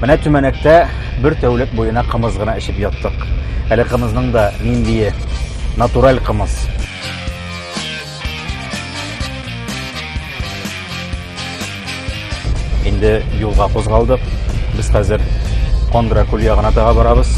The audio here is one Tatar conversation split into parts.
Менә түмәнәктә бер тәүлек буена кымыз гына эчеп яттык. Әле кымызның да ниндие натураль кымыз. Инде юлга кузгалдык. Без хәзер Кондра күл ягына таба барабыз.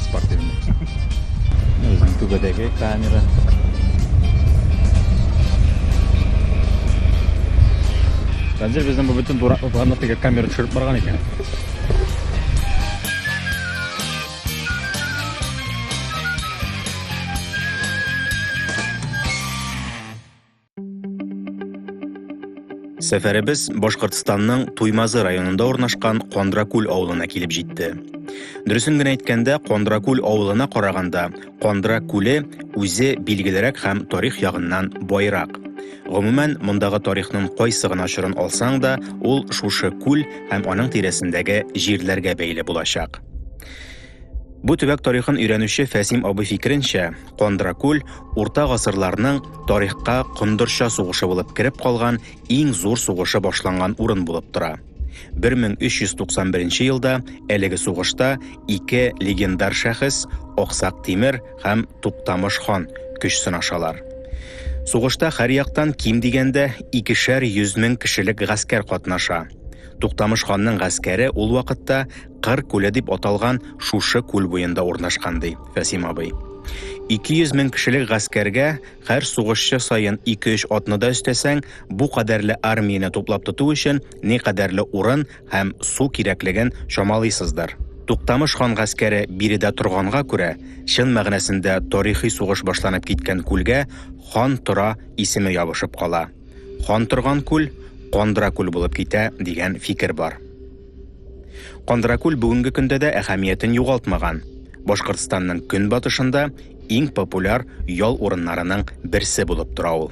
Спортивный. Үзенең түбәдәге камера. Хәзер безнең бу бөтен дурак утырганда теге камера төшереп барган икән. Сәфәребез Башкортстанның Туймазы районында урнашкан Кондракүл авылына килеп җитте. Дөресен генә әйткәндә, Кондракүл авылына караганда, Кондра күле үзе билгелерәк һәм тарих ягыннан байрак. Гомумән, мондагы тарихның кайсы гына чорын алсаң да, ул шушы күл һәм аның тирәсендәге җирләргә бәйле булачак. Бу төбәк тарихын өйрәнүче Фәсим абый фикеренчә, Кондракүл урта гасырларның тарихка Кондырча сугышы булып кереп калган иң зур сугышы башланган урын булып тора. 1391 елда әлеге сугышта ике легендар шәхес, Аксак Тимер һәм Туктамыш хан көч сынашалар. Сугышта һәр яктан ким дигәндә икешәр йөз мең кешелек гаскәр катнаша. Туктамыш ханның гаскәре ул вакытта Кыр күле дип аталган шушы күл буенда урнашкан, ди Фәсим абый. 200 мең кешелек гаскәргә һәр сугышчы саен 2-3 атны да өстәсәң, бу кадәрле армияне туплап тоту өчен ни кадәрле урын һәм су кирәклеген чамалыйсыздыр. Туктамыш хан гаскәре биредә торганга күрә, чын мәгънәсендә тарихи сугыш башланып киткән күлгә Хан тора исеме ябышып кала. Хан торган күл Кандра күл булып китә дигән фикер бар. Кандракүл бүгенге көндә дә әһәмиятен югалтмаган. Башкортстанның көнбатышында иң популяр ял урыннарының берсе булып тора ул.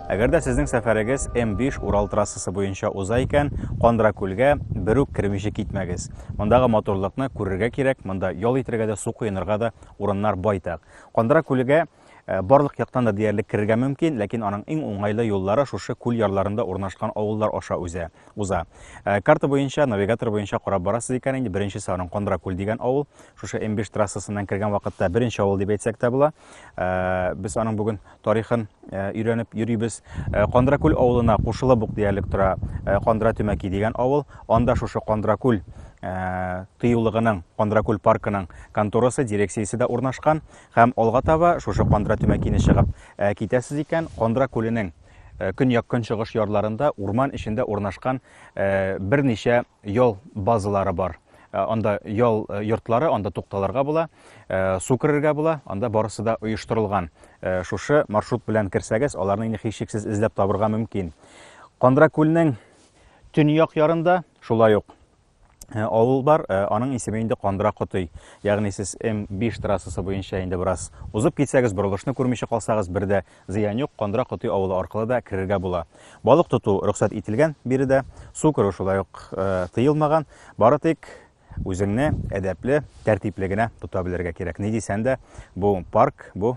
Әгәр дә сезнең сәфәрегез М5 Урал трассасы буенча уза икән, Кандракүлгә бер үк кермичә китмәгез. Мондагы матурлыкны күрергә кирәк, монда ял итәргә дә, су коенырга да урыннар байтак. Кандракүлгә Э, барлык яктан да диярлек керергә мөмкин, ләкин аның иң уңайлы юллары шушы күл ярларында урнашкан авыллар аша үзе уза. Э, карта буенча, навигатор буенча карап барасыз икән инде, беренчесе аның Кондра күл дигән авыл. Шушы М5 трассасыннан кергән вакытта беренче авыл дип әйтсәк тә була. Э, без аның бүген тарихын өйрәнеп йөрибез. Кондра күл авылына кушылып ук диярлек тора Кондра Төмәки дигән авыл. Анда шушы Кондра күл Э, тыюлыгының Кондракүл паркының конторасы, дирекциясе дә урнашкан. Һәм алга таба шушы Кандра Төмәкине чыгып китәсез икән, Кандра күленең көньяк-көнчыгыш ярларында урман эчендә урнашкан берничә ял базалары бар. Анда ял йортлары, анда тукталырга була, су керергә була, анда барысы да оештырылган. Шушы маршрут белән керсәгез, аларны инде һичшиксез эзләп табырга мөмкин. Кандра күленең төньяк ярында, шулай ук Э, авыл бар, э, аның исеме инде Кандыра Котый. Ягъни сез М5 трассасы буенча инде бераз узып китсәгез, борылышны күрмичә калсагыз, бер дә зыян юк, Кандыра Котый авылы аркылы да керергә була. Балык тоту рөхсәт ителгән биредә, су керү шулай ук э, тыелмаган. Бары тик үзеңне әдәпле, тәртипле генә тота белергә кирәк. Ни дисәң дә, бу парк, бу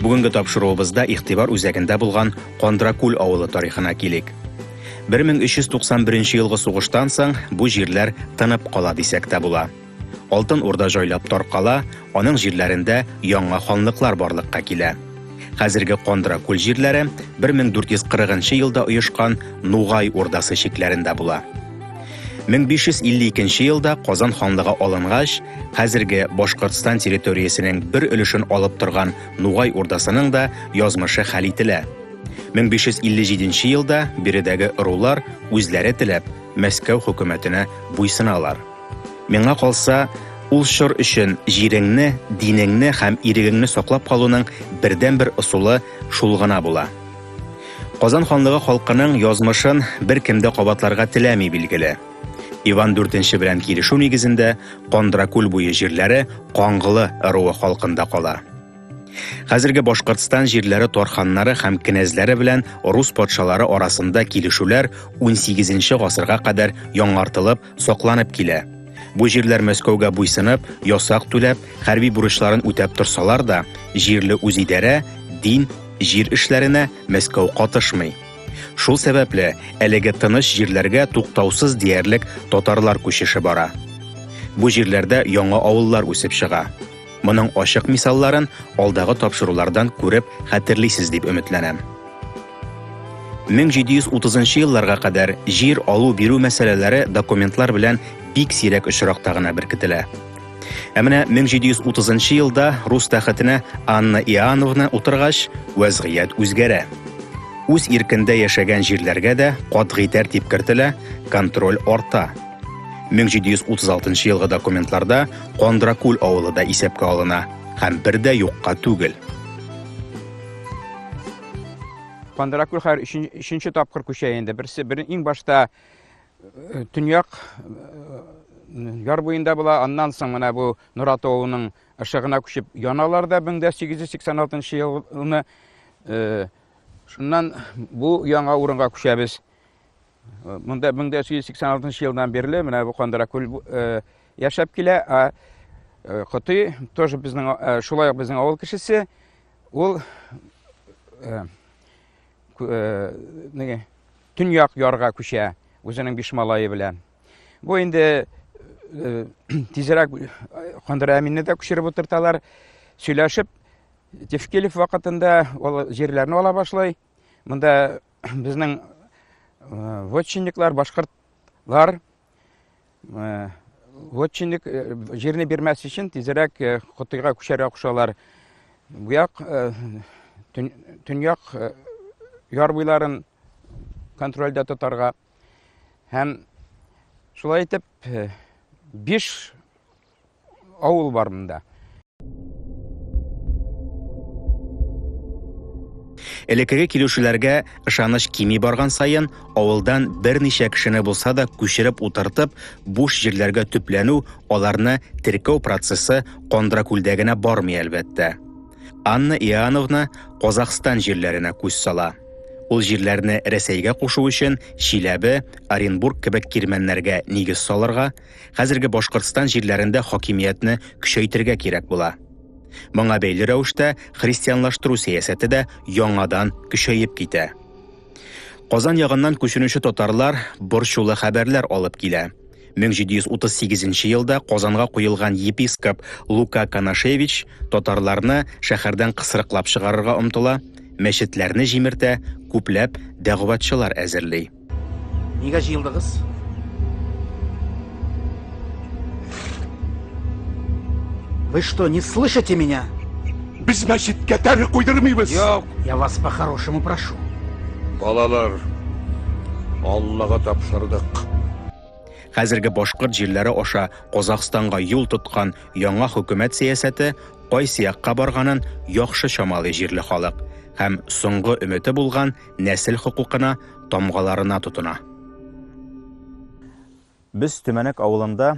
Бүгенге тапшыруыбызда игътибар үзәгендә булган Кондракүл авылы тарихына килик. 1391 елгы сугыштан соң бу җирләр тынып кала дисәк тә була. Алтын Урда җайлап таркала, аның җирләрендә яңа ханлыклар барлыкка килә. Хәзерге Кондра күл җирләре 1440 елда оешкан Нугай Урдасы чикләрендә була. 1552 елда Казан ханлыгы алынгач, хәзерге Башкортстан территориясенең бер өлешен алып торган Нугай Урдасының да язмышы хәл ителә. 1557 елда биредәге ырулар үзләре теләп Мәскәү хөкүмәтенә буйсыналар. Миңа калса, ул чор өчен җиреңне, динеңне һәм ирегеңне саклап калуның бердәнбер ысулы шул гына була. Казан ханлыгы халкының язмышын беркем дә кабатларга теләми, билгеле. Иван дүртенче белән килешү нигезендә Кондракүл буе җирләре Каңгылы ыруы халкында кала. Хәзерге Башкортстан җирләре тарханнары һәм кенәзләре белән рус патшалары арасында килешүләр 18 нче гасырга кадәр яңартылып, сакланып килә. Бу җирләр Мәскәүгә буйсынып, ясак түләп, хәрби бурычларын үтәп торсалар да, җирле үзидарә, дин, җир эшләренә Мәскәү катышмый. Шул сәбәпле, әлеге тыныч җирләргә туктаусыз диярлек татарлар күчеше бара. Бу җирләрдә яңа авыллар үсеп чыга. Моның ачык мисалларын алдагы тапшырулардан күреп хәтерлисез дип өметләнәм. 1730 елларга кадәр җир алу бирү мәсьәләләре документлар белән бик сирәк очракта гына беркетелә. Ә менә 1730 елда рус тәхетенә Анна Иоанновна утыргач, вәзгыять үзгәрә. Үз иркендә яшәгән җирләргә дә катгый тәртип кертелә, контроль арта. 1736 елгы документларда Кондракул авылы да исәпкә алына һәм бер дә юкка түгел. Пандракүл хәзер өченче тапкыр күчә инде. Берсе бер иң башта э, төньяк э, яр буенда була, аннан соң менә бу Нурат авылының ышыгына күчеп яналар да 1886 елны. Э, шуннан бу яңа урынга күчәбез. Монда 1986 елдан бирле менә бу Кандыра күл э, яшәп килә. А э, Коты тоже безнең э, шулай ук безнең авыл кешесе. Ул неге төньяк ярга күчә үзенең биш малае белән. Бу инде тизрәк Кандыра Әминне дә күчереп утырталар. Сөйләшеп Тевкелев вакытында ул җирләрне ала башлый. Монда безнең вотчинниклар, башкортлар вотчинник җирне бирмәс өчен тизрәк Котыйга күчәргә кушалар. Бу як төньяк яр буйларын контрольдә тотарга һәм шулай итеп биш авыл бар монда. Элеккеге килүчеләргә ышаныч кими барган саен, авылдан берничә кешене булса да күчереп утыртып, буш җирләргә төпләнү, аларны теркәү процессы Кондракүлдә генә бармый, әлбәттә. Анна Иоанновна Казахстан җирләренә күз сала. Ул җирләрне Рәсәйгә кушу өчен Чиләбе, Оренбург кебек кирмәннәргә нигез салырга, Хәзерге Башкортстан җирләрендә хакимиятне көчәйтергә кирәк була. Моңа бәйле рәвештә христианлаштыру сәясәте дә яңадан көчәеп китә. Казан ягыннан күченүче татарлар борчулы хәбәрләр алып килә. 1738 елда Казанга куелган епископ Лука Канашевич татарларны шәһәрдән кысрыклап чыгарырга омтыла, мәчетләрне җимертә, күпләп дәгъватчылар әзерли. Нигә җыелдыгыз? Вы что, не слышите меня? Без мәчеткә тәре куйдырмыйбыз. Юк. Я вас по-хорошему прошу. Балалар, Аллага тапшырдык. Хәзерге башкорт җирләре аша Казахстанга юл тоткан яңа хөкүмәт сәясәте кайсы якка барганын яхшы чамалый җирле халык һәм соңгы өмете булган нәсел хокукына, тамгаларына тотына. Без Төмәнәк авылында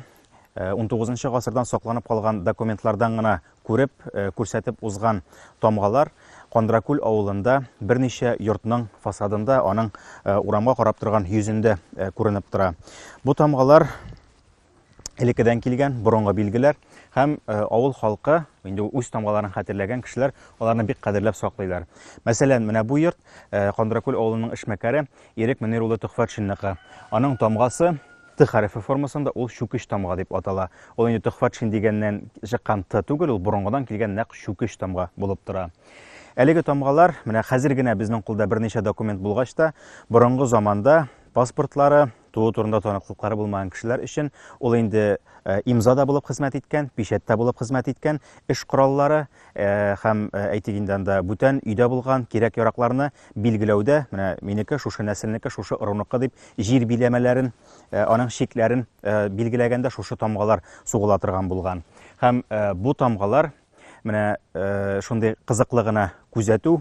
19 э, нчы гасырдан сакланып калган документлардан гына күреп, э, күрсәтеп узган тамгалар Кандракүл авылында берничә йортның фасадында, аның э, урамга карап торган йөзендә күренеп тора. Бу тамгалар элеккедән килгән борынгы билгеләр һәм э, авыл халкы инде үз тамгаларын хәтерләгән кешеләр аларны бик кадерләп саклыйлар. Мәсәлән, менә бу йорт э, Кандракүл авылының эшмәкәре Ирек Мөнир улы Төхфәтшинныкы. Аның тамгасы Т хәрефе формасында ул чүкеч тамга дип атала. Ул инде Төхфәтшин дигәннән чыккан Т түгел, ул борынгыдан килгән нәкъ чүкеч тамга булып тора. Әлеге тамгалар менә хәзер генә безнең кулда берничә документ булгач та, борынгы заманда паспортлары, Туу турында таныклыклары булмаган кешеләр өчен ул инде э, имза да булып хезмәт иткән, печәт тә булып хезмәт иткән, эш кораллары э, һәм э, әйтик инде анда бүтән өйдә булган кирәк-яракларны билгеләүдә, менә минеке шушы нәселнеке, шушы ыруныкы дип җир биләмәләрен, аның чикләрен билгеләгәндә шушы тамгалар сугыла торган булган. Һәм бу тамгалар Менә э, шундый кызыклы гына күзәтү.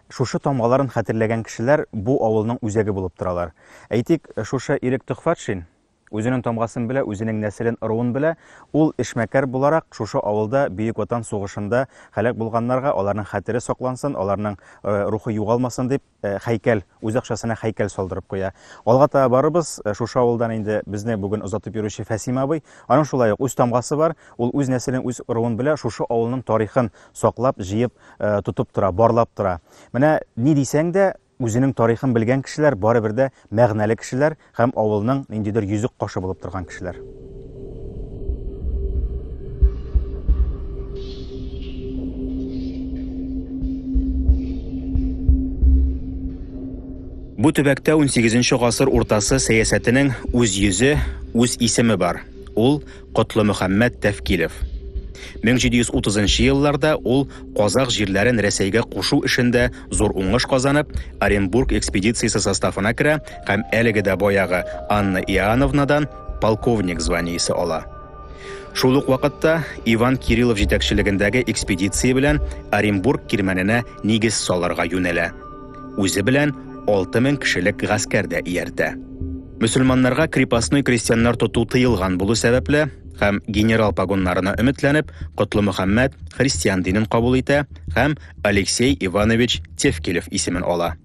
Шушы тамгаларын хәтерләгән кешеләр бу авылның үзәге булып торалар. Әйтик, шушы Ирек Төхфатшин үзенең тамгасын белә, үзенең нәселен, ыруын белә. Ул эшмәкәр буларак шушы авылда Бөек Ватан сугышында һәлак булганнарга аларның хәтере саклансын, аларның э, рухы югалмасын дип Э, хәйкәл үз акчасына хәйкәл салдырып куя алга таба барыбыз э, шушы авылдан инде безне бүген озатып йөрүче фәсим абый аның шулай ук үз тамгасы бар ул үз нәселен үз ыруын белә шушы авылның тарихын саклап җыеп э, тотып тора барлап тора менә ни дисәң дә үзенең тарихын белгән кешеләр барыбер дә мәгънәле кешеләр Һәм авылның ниндидер йөзек кашы булып торган кешеләр. Бу төбәктә 18 нче гасыр уртасы сәясәтенең үз йөзе, үз исеме бар. Ул Котлымөхәммәт Тәфкилев. Мең җиде йөз утызынчы елларда ул казакъ җирләрен Рәсәйгә кушу эшендә зур уңыш казанып, Оренбург экспедициясе составына керә һәм әлеге дә баягы Анна Иоановнадан полковник званиесе ала. Шул ук вакытта Иван Кириллов җитәкчелегендәге экспедиция белән Оренбург кирмәненә нигез салырга юнәлә. Үзе белән алты мең кешелек гаскәр дә ияртә. Мөселманнарга крепостной крестьяннар тоту тыелган булу сәбәпле һәм генерал погоннарына өметләнеп, Котлы Мөхәммәд христиан динен кабул итә һәм Алексей Иванович Тевкелев исемен ала.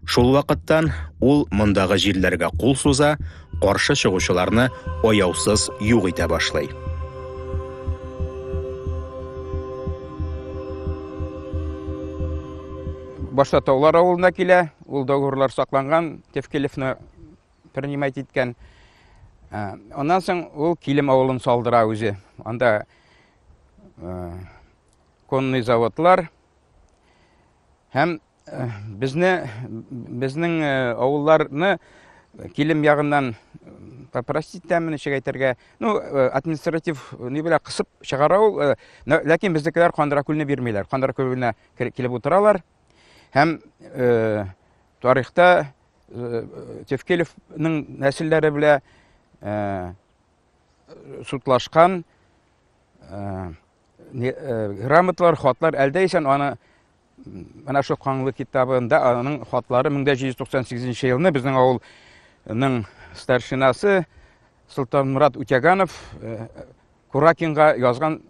Шул вакыттан ул мондагы җирләргә кул суза, каршы чыгучыларны аяусыз юк итә башлый. Башта Таулар авылына килә, Ул договорлар сакланган, Тевкелевны принимать иткән. Ә, Аннан соң ул Килем авылын салдыра үзе. Анда ә, конный заводлар һәм ә, безне безнең ә, авылларны Килем ягыннан попросить тәмен ничек әйтергә, ну, э, административ э, ни белән кысып чыгара ул, э, ләкин безнекеләр Кандыракүлне бирмиләр. Кандыракүлне килеп утыралар. Һәм э, тарихта э, Тевкелевның нәселләре белән э, судлашкан э, э, грамоталар, хатлар әлдә исән аны менә шул Каңлы китабында аның хатлары 1798 елны безнең авылның старшинасы Султанмурат Утяганов э, Куракинга язган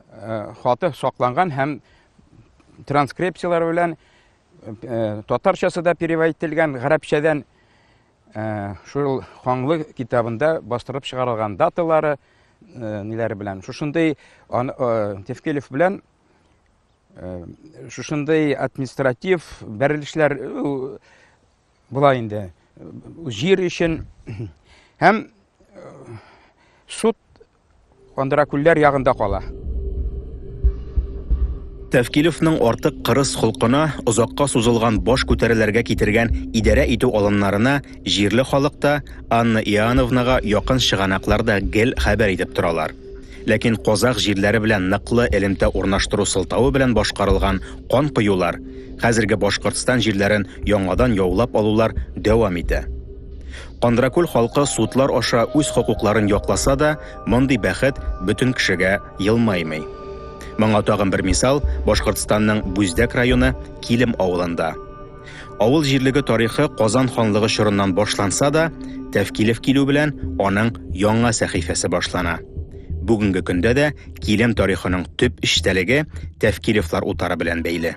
хаты сакланган һәм транскрипцияләр белән татарчасы да перевод ителгән, гарәпчәдән шул ханлы китабында бастырып чыгарылган даталары ниләре белән. Шушындый Тевкелев белән шушындый административ бәрелешләр була инде. Җир өчен һәм суд Кандыра күлләр ягында кала. Тәвкилевның артык кырыс холкына, озакка сузылган баш күтәреләргә китергән идарә итү алымнарына җирле халык та, Анна Иоановнага якын чыганаклар да гел хәбәр итеп торалар. Ләкин казах җирләре белән ныклы элемтә урнаштыру сылтавы белән башкарылган кан коюлар, хәзерге Башкортстан җирләрен яңадан яулап алулар дәвам итә. Кандракүл халкы судлар аша үз хокукларын якласа да, мондый бәхет бөтен кешегә елмаймый. Моңа тагын бер мисал, Башкортстанның Бүздәк районы Килем авылында. Авыл җирлеге тарихы Казан ханлыгы чорыннан башланса да, Тәфкилев килү белән аның яңа сәхифәсе башлана. Бүгенге көндә дә Килем тарихының төп эчтәлеге Тәфкилевлар утары белән бәйле.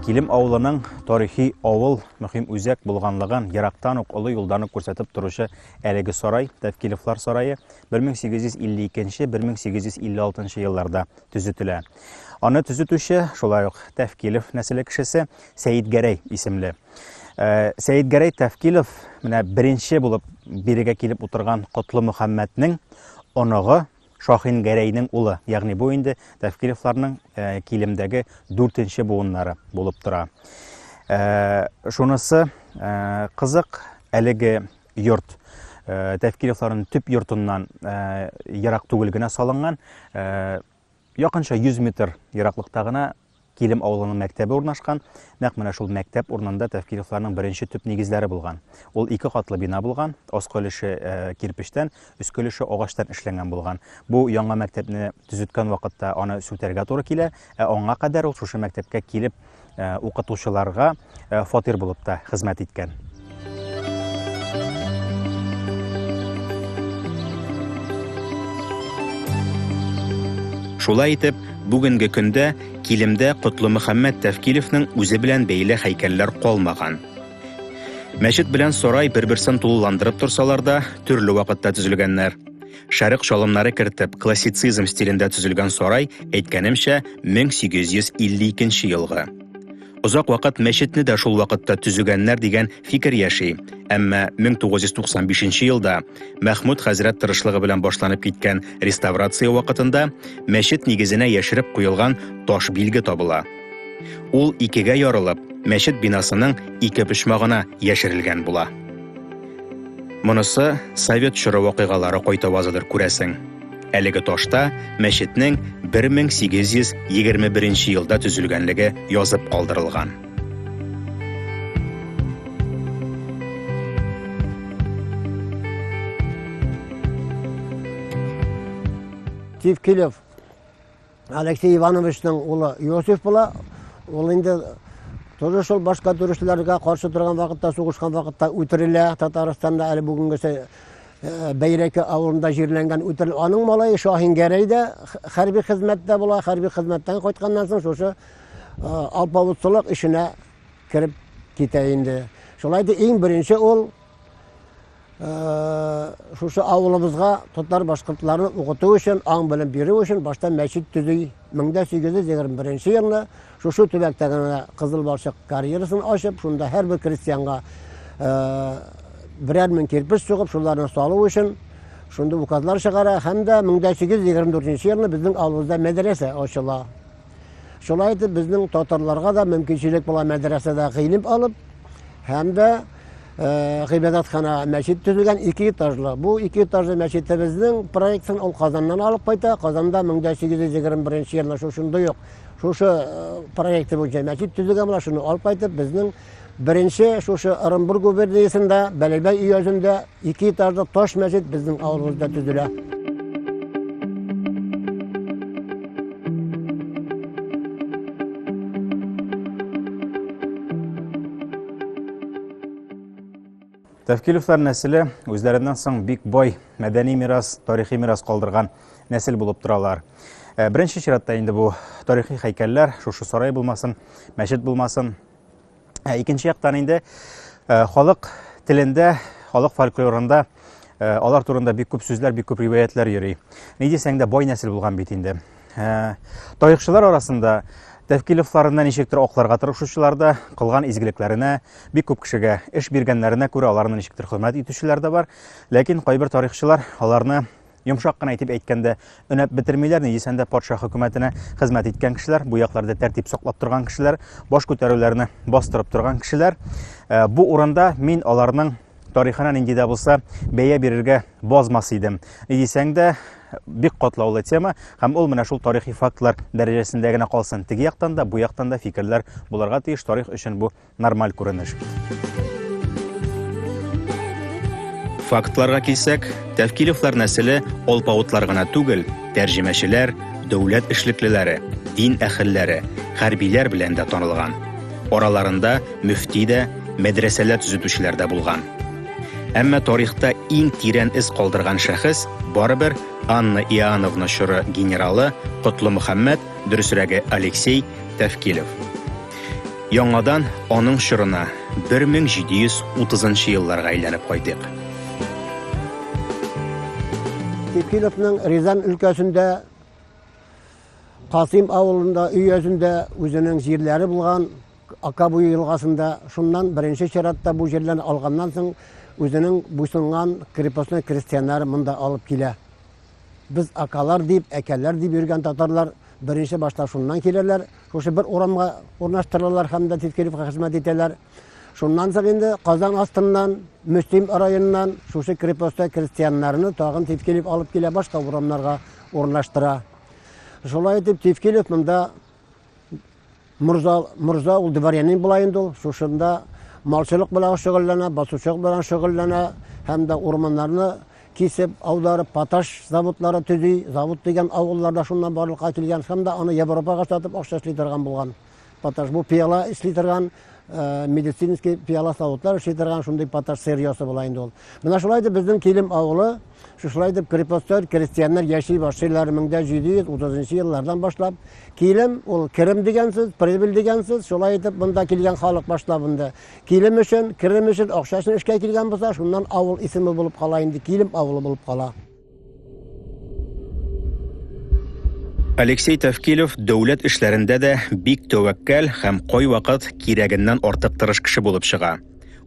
Килем авылының тарихи авыл мөһим үзәк булганлыгын ерактан ук олы юлдан ук күрсәтеп торучы Әлеге сарай, Тәфкилевлар сарае, 1852-1856 елларда төзетелә. Аны төзетүче, шулай ук Тәфкилев нәселе кешесе Сәетгәрәй исемле. Э, Сәетгәрәй Тәфкилев менә беренче булып бирегә килеп утырган Котлы Мөхәммәтнең оныгы Шаһин Гәрәйнең улы, ягъни бу инде Тәфкилевларның килемдәге дүртенче буыннары булып тора. Шунысы кызык, әлеге йорт Тәфкилевларның төп йортыннан ерак түгел генә салынган, якынча 100 метр ераклыкта гына Килем авылының мәктәбе урнашкан, нәкъ менә шул мәктәп урынында Тәфкилевларның беренче төп нигезләре булган. Ул ике катлы бина булган, аскы өлеше э, кирпечтән, өске өлеше агачтан эшләнгән булган. Бу яңа мәктәпне төзеткән вакытта аны сүтәргә туры килә, ә аңа кадәр ул шушы мәктәпкә килеп э, укытучыларга э, фатир булып та хезмәт иткән. Шулай итеп, бүгенге көндә килемдә Котлы Мөхәммәд Тәфкилевнең үзе белән бәйле һәйкәлләр калмаган. Мәчет белән сарай бер-берсен тулыландырып торсалар да, төрле вакытта төзелгәннәр. Шәрык шалымнары кертеп, классицизм стилендә төзелгән сарай, әйткәнемчә, 1852 елгы. Озак вакыт мәчетне дә шул вакытта төзегәннәр дигән фикер яши. Әмма 1995 елда Мәхмүд хәзрәт тырышлыгы белән башланып киткән реставрация вакытында мәчет нигезенә яшереп куелган таш билге табыла. Ул икегә ярылып, мәчет бинасының ике почмагына яшерелгән була. Монысы совет чоры вакыйгалары кайтавазыдыр күрәсең. Әлеге ташта мәчетнең 1821 елда төзелгәнлеге язып калдырылган. Тевкелев Алексей Ивановичның улы Иосиф була. Ул инде тоже шул башка төрешләргә каршы торган вакытта, сугышкан вакытта үтерелә. Татарстанда әле бүгенгесе э, Бәйрәке авылында җирләнгән үтерелә. Аның малае Шаһин Гәрәй дә хәрби хезмәттә була. Хәрби хезмәттән кайтканнан соң шушы э, алпавытлылык эшенә кереп китә инде. Шулай да иң беренче ул шушы авылыбызга татар башкортларны укыту өчен аң белем бирү өчен башта мәчет төзи мең дә сигез йөз егерме беренче елны шушы төбәктә генә кызыл балчык карьерасын ачып шунда һәрбер крестьянга берәр мең кирпеч сугып шуларны салу өчен шунда указлар чыгара һәм дә мең дә сигез йөз егерме дүртенче елны безнең авылыбызда мәдрәсә ачыла Шулай итеп, безнең татарларга да мөмкинчелек була мәдрәсәдә гыйлем алып, һәм дә э, гыйбадәтхана мәчет төзелгән ике этажлы. Бу ике этажлы мәчетебезнең проектын ул Казаннан алып кайта. Казанда 1821 елда шушындый ук шушы э, проекты буенча мәчет төзелгән була, шуны алып кайтып, безнең Беренче шушы Ырымбур губерниясендә Бәләбәй өязендә ике этажлы таш мәчет безнең авылыбызда төзелә. Тәфкилевләр нәселе үзләреннән соң бик бай мәдәни мирас, тарихи мирас калдырган нәсел булып торалар. Э, беренче чиратта инде бу тарихи хәйкәлләр, шушы сарай булмасын, мәчет булмасын, Ә икенче яктан инде э, халык телендә, халык фольклорында э, алар турында бик күп сүзләр, бик күп риваятлар йөри. Ни дисәң дә бай нәсел булган бит инде. Э, тарихчылар арасында Тәвкиловларына ничектер акларга тырышучылар да, кылган изгелекләренә, бик күп кешегә эш биргәннәренә күрә аларны ничектер хөрмәт итүчеләр дә бар. Ләкин кайбер тарихчылар аларны Йомшак кына итеп әйткәндә, өнәп бетермиләр ни, дисән дә, патша хөкүмәтенә хезмәт иткән кешеләр, бу якларда тәртип саклап торган кешеләр, баш күтәрүләрне бастырып торган кешеләр. Э, бу урында мин аларның тарихына нинди дә булса бәя бирергә базмас идем. Ни дисәң дә, бик катлаулы тема һәм ул менә шул тарихи фактлар дәрәҗәсендә генә калсын. Теге яктан да, бу яктан да фикерләр булырга тиеш. Тарих өчен бу Нормаль күренеш бит. Фактларга килсәк, Тәвкилевлар нәселе алпавытлар гына түгел, тәрҗемәчеләр, дәүләт эшлеклеләре, дин әхелләре, хәрбиләр белән дә танылган. Араларында мөфти дә, мәдрәсәләр төзетүчеләр дә булган. Әмма тарихта иң тирән эз калдырган шәхес барыбер Анна Иоанновна чоры генералы Котлы Мөхәммәд, дөресрәге Алексей Тәвкилев. Яңадан аның чорына 1730 елларга әйләнеп кайтыйк. Текиловның Рязан өлкәсендә Касим авылында өйәзендә үзенең җирләре булган Акабуй елгасында шуннан беренче чиратта бу җирләрне алганнан соң үзенең буйсынган крепостной крестьяннары монда алып килә. Без акалар дип, әкәләр дип йөргән татарлар беренче башта шуннан киләләр, Шушы бер урамга урнаштырылалар һәм дә тискеревка хезмәт итәләр. Шуннан соң инде Казан астыннан, Мөслим районыннан шушы крепостьтә крестьяннарны тагын тискерев алып килә башка урамнарга урнаштыра. Шулай итеп тискерев монда морза, морза ул дворянин була инде ул. Шушында малчылык белән шөгыльләнә, басучылык белән шөгыльләнә һәм дә урманнарны кисеп, аударып, поташ заводлары төзи. Завод дигән авылларда шуннан барлыкка килгән һәм дә аны Европага сатып акча эшли торган булган. Поташ бу пиала эшли торган Э, медицинский пиала савытлар эшли торган шундый поташ сырьесы була инде ул менә шулай итеп безнең килем авылы шушылай итеп крепостер крестьяннар яши башлыйлар мең дә җиде йөз утызынчы еллардан башлап килем ул керем дигән сүз прибыль дигән сүз шулай итеп монда килгән халык башлап инде Килем өчен, керем өчен акча өчен эшкә килгән булса, шуннан авыл исеме булып кала инде, Килем авылы булып кала. Алексей Тәвкилев дәүләт эшләрендә дә бик тәвәккәл һәм кайвакыт кирәгеннән артык тырыш кеше булып чыга.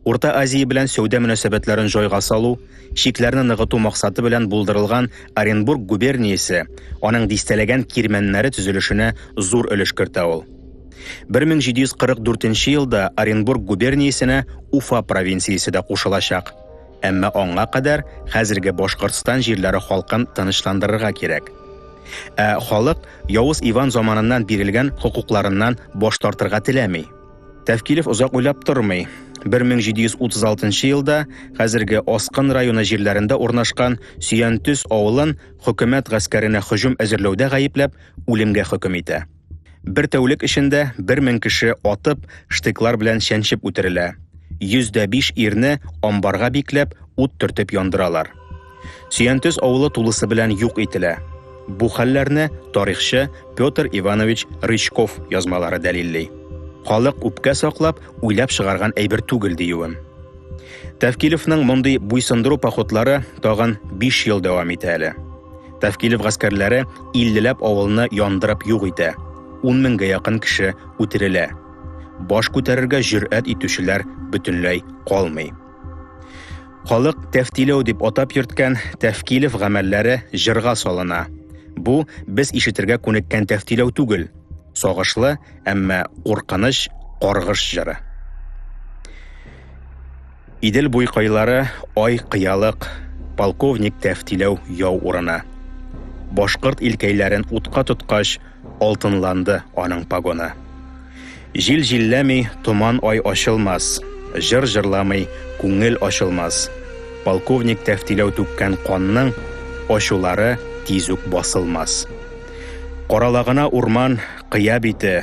Урта Азия белән сәүдә мөнәсәбәтләрен җайга салу, чикләрне ныгыту максаты белән булдырылган Оренбург губерниясе, аның дистәләгән кирмәннәре төзелешенә зур өлеш кертә ул. 1744 елда Оренбург губерниясенә Уфа провинциясе дә кушылачак. Әмма аңа кадәр хәзерге Башкортстан җирләре халкын тынычландырырга кирәк. Ә халык Явыз Иван заманыннан бирелгән хокукларыннан баш тартырга теләми. Тәфкилев озак уйлап тормый. 1736 елда хәзерге Аскын районы җирләрендә урнашкан Сөянтөс авылын хөкүмәт гаскәренә һөҗүм әзерләүдә гаепләп, үлемгә хөкем итә. Бер тәүлек эчендә 1000 кеше атып, штыклар белән чәнчеп үтерелә. 105 ирне амбарга бикләп, ут төртеп яндыралар. Сөянтөз авылы тулысы белән юк ителә. Бу хәлләрне тарихчы Петр Иванович Рычков язмалары дәлилли. Халык үпкә саклап, уйлап чыгарган әйбер түгел диюем. Тәвкилевның мондый буйсындыру походлары тагын 5 ел дәвам итә әле. Тәфкилев гаскәрләре иллеләп авылны яндырып юк итә. Ун меңгә якын кеше үтерелә. Баш күтәрергә җөрьәт итүчеләр бөтенләй калмый. Халык тәфтиләү дип атап йөрткән Тәфкилев гамәлләре җырга салына. Бу без ишетергә күнеккән тәфтиләү түгел, сагышлы, әмма куркыныч каргыш җыры. Идел буй кайлары ай кыялык, полковник тәфтиләү яу урыны. Башкорт илкәйләрен утка тоткач, алтынланды аның погоны. Җил җилләми, томан ай ачылмас, җыр җырламый, күңел ачылмас. Полковник тәфтиләү түккән канның ачулары тиз үк басылмас. Каралагына урман, кыя бите,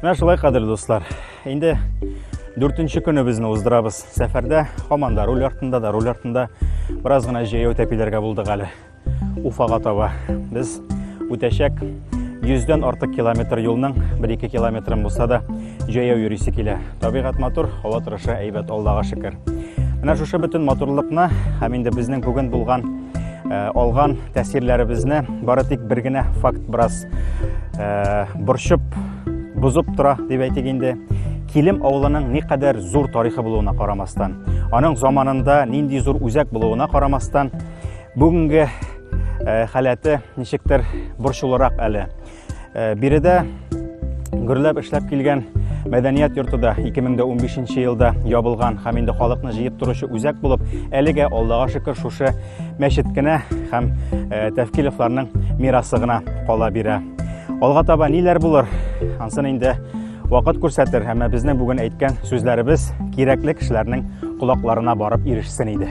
Менә шулай кадерле дуслар. Инде 4нче көне безне уздырабыз. Сәфәрдә һаман да руль артында да руль артында бераз гына җәяү тәпиләргә булдык әле. Уфага таба. Без үтәчәк 100 дән артык километр юлның 1-2 километрын булса да Җәяү йөрисе килә. Табигать матур, һава торышы әйбәт, Аллага шөкер. Менә шушы бөтен матурлыкны һәм инде безнең бүген булган э, алган тәэсирләребезне бары тик бер генә факт бераз э, борчып, бозып тора дип әйтик инде. Килем авылының никадәр зур тарихы булуына карамастан, аның заманында нинди зур үзәк булуына карамастан, бүгенге э, халәте ничектер борчулырак әле. Э, биредә гөрләп эшләп килгән мәдәният йорты да 2015 елда ябылган һәм инде халыкны җыеп торучы үзәк булып, әлегә Аллага шөкер шушы мәчет кенә һәм э, Тәфкилевларның мирасы гына кала бирә. Алга таба ниләр булыр? Ансын инде вакыт күрсәтер, әмма безнең бүген әйткән сүзләребез кирәкле кешеләрнең колакларына барып ирешсен иде.